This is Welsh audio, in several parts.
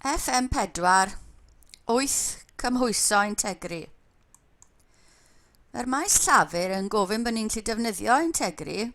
FM4, 8 cymhwyso integri. Mae'r maes llafur yn gofyn bod ni'n gallu defnyddio integri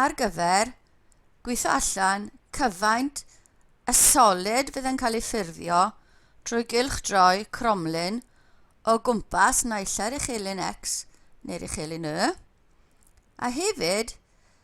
ar gyfer gweithio allan cyfaint y solid fydd yn cael ei ffurfio trwy gylch droi cromlin o gwmpas naillau'r uchelyn X neu'r uchelyn Y, a hefyd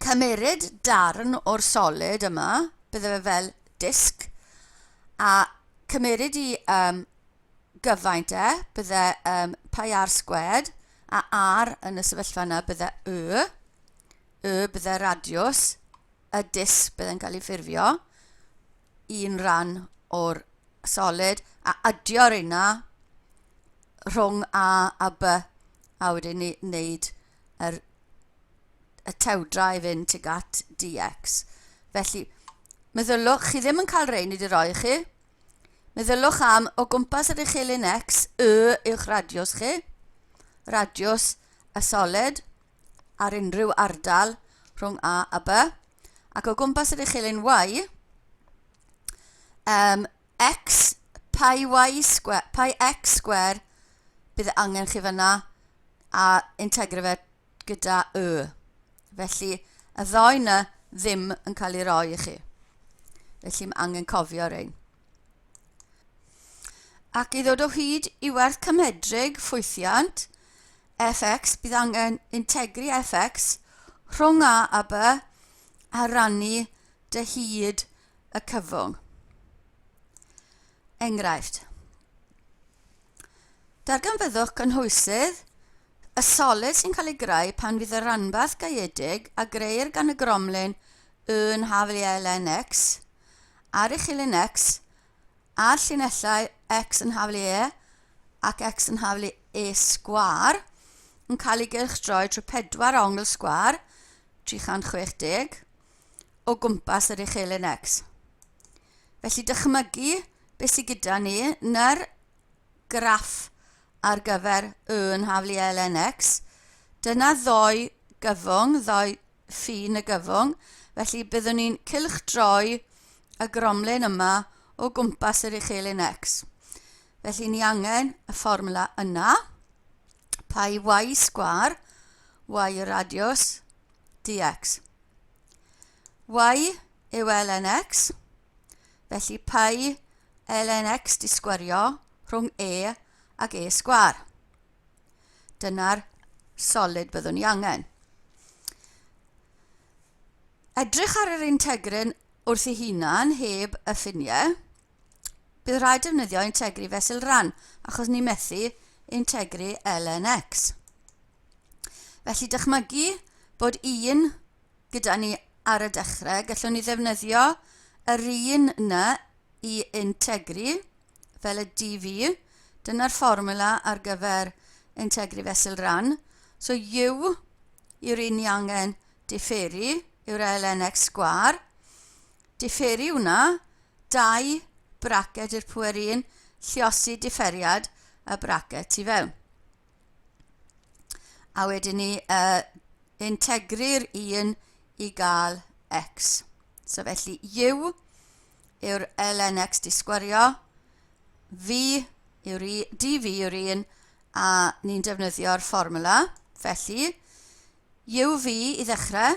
cymeryd darn o'r solid yma, bydde fe fel disc, a cymeryd i um, gyfaint e, bydde um, pi ar sgwed, a ar yn y sefyllfa yna bydde y, y bydde radiws, y disc bydde'n cael ei ffurfio, un rhan o'r solid, a adio'r yna rhwng A a B, a wedyn ni wneud yr, y tewdra i fynd tuag at dx. Felly, meddyliwch, chi ddim yn cael rhain wedi roi i chi. Meddyliwch am o gwmpas yr uchelyn x, y yw'ch radiws chi, radiws y soled ar unrhyw ardal rhwng A a B, ac o gwmpas yr uchelyn y, um, x pi y sgwr pi x sgwr bydd e angen chi fanna a integro fe gyda y felly y ddoi na ddim yn cael ei roi i chi felly mae angen cofio rhain ac i ddod o hyd i werth cymhedrig ffwythiant fx bydd angen integri fx rhwng a a b a rannu dy hyd y cyfwng. Enghraifft. Darganfyddwch gynhwysydd y solid sy'n cael ei greu pan fydd y ranbarth gaeedig a greir gan y gromlin yn haflu elfen X ar ei chilyn X a'r llinellau X yn haflu E ac X yn haflu E sgwar yn cael ei gylchdroi trwy pedwar ongl sgwar 360 o gwmpas yr uchelyn X. Felly dychmygu beth sydd gyda ni yn yr graff ar gyfer y yn haflu ln x. Dyna ddoi gyfwng, ddoi ffin y gyfwng. Felly byddwn ni'n cylch droi y gromlin yma o gwmpas yr uchelyn x. Felly ni angen y fformula yna. Pai y y sgwar, y radius, dx. Y yw lnx, felly pi lnx disgwyrio rhwng e ac e sgwar. Dyna'r solid byddwn ni angen. Edrych ar yr integryn wrth ei hunan heb y ffiniau, bydd rhaid defnyddio integri fesul ran achos ni methu integri lnx felly dychmygu bod un gyda ni ar y dechrau gallwn ni ddefnyddio yr un yna i integri fel y dv dyna'r fformiwla ar gyfer integri fesul ran so u yw'r un ni angen diferu yw'r lnx sgwâr diferu hwnna dau braced i'r pŵer un, lliosi diferiad y braced tu fewn. A wedyn ni uh, integru'r un i gael x. So felly u yw'r ln x di sgwario, v yw'r dv yw'r un, a ni'n defnyddio'r fformula. Felly, uv i ddechrau,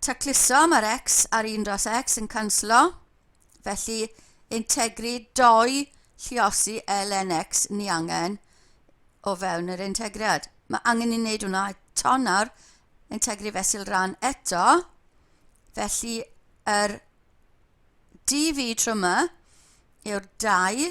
Tacluso, mae'r X a'r un dros X yn canslo, felly integri dou lliosi lnx ni angen o fewn yr integriad. Mae angen i wneud hwnna eto nawr, integri fesul rhan eto, felly yr dv tryma yw'r dau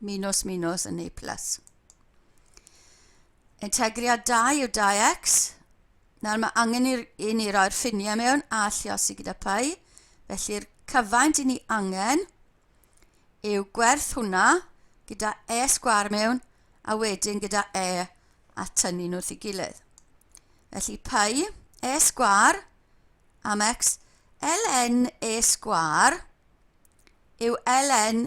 Minos Minos yn Naples. Integriad 2 yw 2x. Nawr mae angen i ni roi'r ffiniau mewn a lliosi gyda pai. Felly'r cyfaint i ni angen yw gwerth hwnna gyda e sgwar mewn a wedyn gyda e a tynnu nhw wrth ei gilydd. Felly pai e sgwar am x ln e sgwar yw ln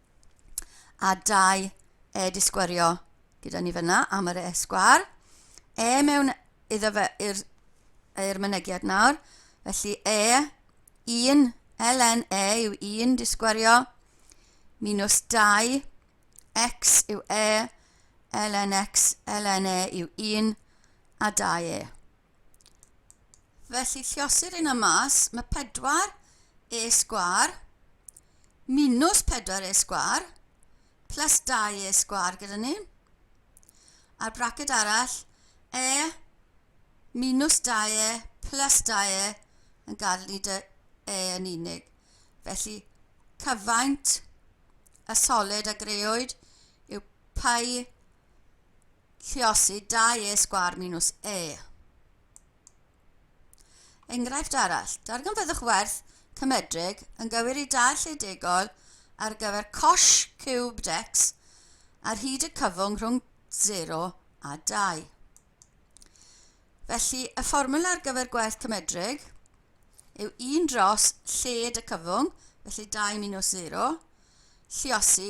a dau e di sgwario gyda ni fyna am yr e sgwar e mewn iddo fe i'r er mynegiad nawr felly e 1 ln e yw 1 di sgwario minus 2 x yw e ln x ln e yw 1 a 2 e felly llosir hyn yma mae 4ac minus 4ac plus 2ac gyda ni a'r braced arall e minus 2e plus 2e yn gadael ni 'da e yn unig felly cyfaint y solid a greodd yw π Lluosi dau E sgwâr minws E. Enghraifft arall, darganfyddwch werth cymedrig yn gywir i dau lle degol ar gyfer cosh ciwbd x ar hyd y cyfwng rhwng 0 a 2. Felly, y fformwla ar gyfer gwerth cymedrig yw 1 dros lled y cyfwng, felly 2 minws 0, lliosi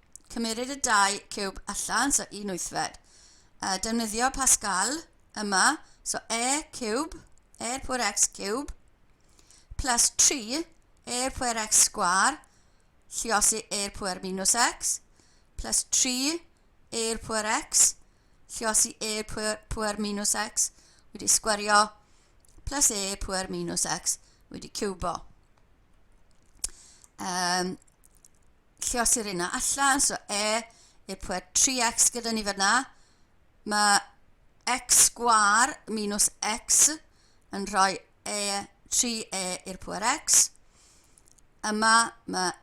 Cymerid y dau ciwb allan, so un wythfed. Uh, defnyddio Pascal yma, so e ciwb, e pwer x ciwb, plus 3 e pwer x sgwar, lliosi e pwer minus x, plus 3 e pwer x, lliosi e pwer, pwer minus x, wedi sgwario, plus e pwer minus x, wedi ciwbo. Um, lle os yw'r yna allan, so e, i'r pwer 3x gyda ni fyna, mae x sgwar minus x yn rhoi e 3e i'r pwer x. Yma mae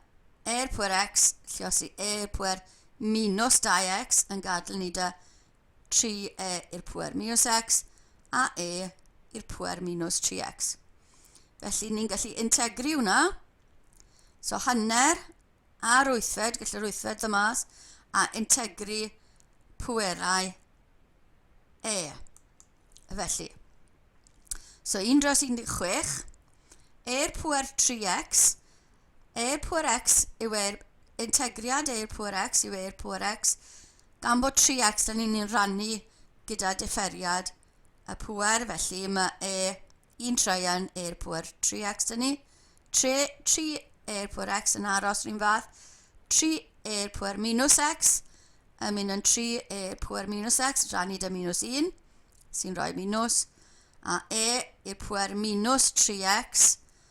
e'r pwer x, lle os i e'r pwer minus 2x yn gadael ni da 3e i'r pŵer minus x a e i'r pŵer minus 3x. Felly ni'n gallu integri hwnna. So hanner a'r wythfed, gallai'r wythfed ddod mas, a integri pwerau e. Felly, so 1 dros 16, e'r pwer 3x, Air Pŵer X yw Air... Integriad Air Pŵer X yw Air Pŵer X, gan bod 3X yn un rannu gyda differiad y pŵer, felly mae e un traean Air Pŵer 3X yn ni. 3, 3 Air Pŵer X yn aros rhywun fath, 3 Air Pŵer minus X yn mynd yn 3 Air Pŵer minus X, rannu dy minus 1, sy'n rhoi minus, a E i'r pŵer minus 3X,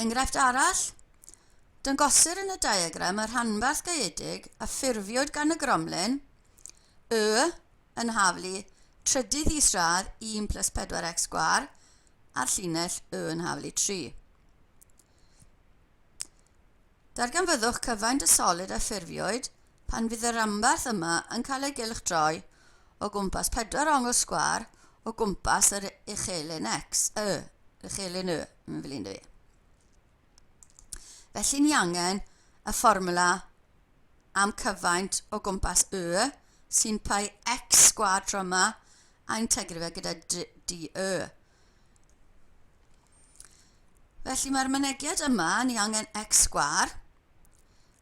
Enghraifft arall, Dangosir yn y diagram y rhanbarth gaeedig a ffurfiwyd gan y gromlin Y yn haflu trydydd isradd 1 plus 4x sgwar a'r llinell Y yn haflu 3. Darganfyddwch cyfaint y solid a ffurfiwyd pan fydd y rhanbarth yma yn cael ei gylchdroi o gwmpas pedwar ongl sgwâr o gwmpas yr uchelyn X, Y, yr uchelyn Y, mae'n flin dwi. Felly ni angen y fformwla am cyfaint o gwmpas Y sy'n pai X sgwâr tro yma a integru fe gyda DY. Felly mae'r mynegiad yma, ni angen x sgwar,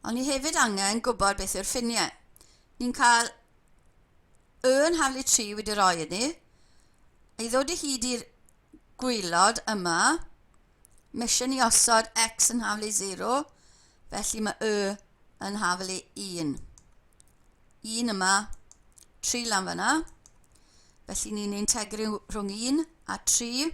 ond ni hefyd angen gwybod beth yw'r ffiniau. Ni'n cael y yn haflu 3 wedi rhoi iddi, ei ddod i hyd i'r gwylod yma, mae eisiau ni osod x yn haflu 0, felly mae y yn haflu 1. 1 yma, 3 lan fyna, felly ni'n integru rhwng 1 a 3,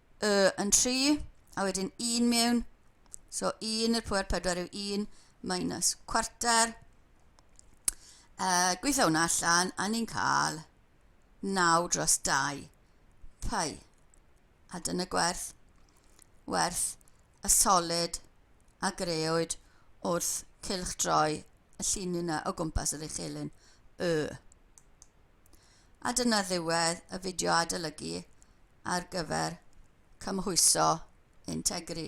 Y yn 3, a wedyn 1 mewn. So 1 i'r pwer 4 yw 1 minus cwarter. Uh, gweithio hwnna allan, a ni'n cael 9 dros 2 pi. A dyna gwerth, werth y solid a greoed wrth cylch droi y llun yna o gwmpas yr eich elyn Y. A dyna ddiwedd y fideo adolygu ar gyfer cymhwyso Integri.